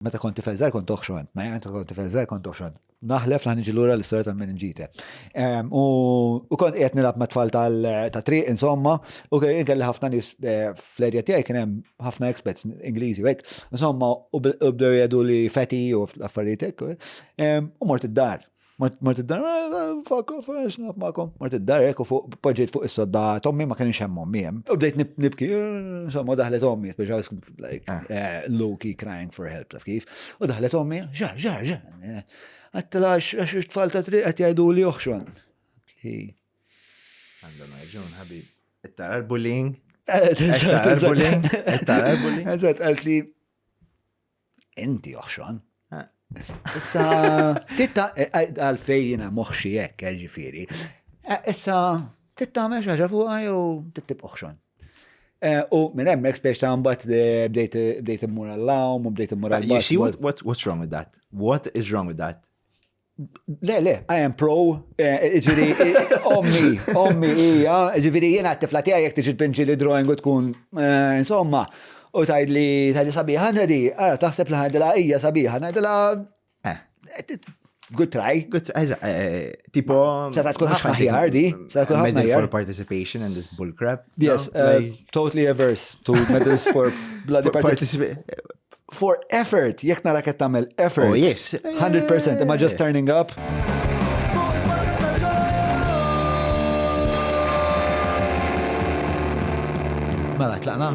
Meta kont tifel żgħar kont oħxon, ma jgħid kont tifel żgħar kont oħxon. Naħlef laħ niġi lura l-istorja ta' minn ġite. U kont qiegħed nilgħab ma' tfal ta' triq insomma, u kien kelli ħafna nies eh, fl-erja tiegħi kien hemm ħafna expats Ingliżi hekk. Insomma, u bdew jgħidu li feti u affarijiet hekk. U mort id-dar. Ma tiddar, fakko, fax, nafmakom. Ma tiddar, ekku fuq, poġġejt fuq is-sodda, tommi ma kienx hemm ommi hemm. U bdejt nibki, insomma, daħlet ommi, biex għas, like, ah. eh, Loki crying for help, taf kif. U daħlet ommi, ġa, ġa, ġa. Eh, għattela, għax tfal ta' triq għat jgħidu li uħxon. Għandhom għagġun, ħabib. Ittara l-bullying. Eh, Ittara l-bullying. Ittara l-bullying. Eżat, għalt li Inti oħxon. Issa, titta, eh, eh, għalfej jina moħxi jekk, eh, ġifiri. Issa, titta meċ ħaġa fuqa jew tittib oħxon. U minn hemmhekk spiex ta' mbagħad bdejt immur għall-lawm u bdejt immur għall-lawm. You see what, what, what's wrong with that? What is wrong with that? Le, le, I am pro, eh, ġiri, ommi, ommi, ija, ġiri, jena t-tifla tija jek tiġi t-pinġi li drawing u tkun, eh, insomma, u tajd li tajd li sabiħa, nadi, għara, taħseb li ħajdila ija sabiħa, najdila, eh. eh, good try. Good try, eża, tipo. Seta tkun ħafna ħjar di, seta tkun ħafna ħjar. for participation in this bullcrap. Yes, totally averse to medals for bloody participation. for effort, jek nara qed tagħmel effort. Oh yes. 100% imma just turning up. Mela tlaqna.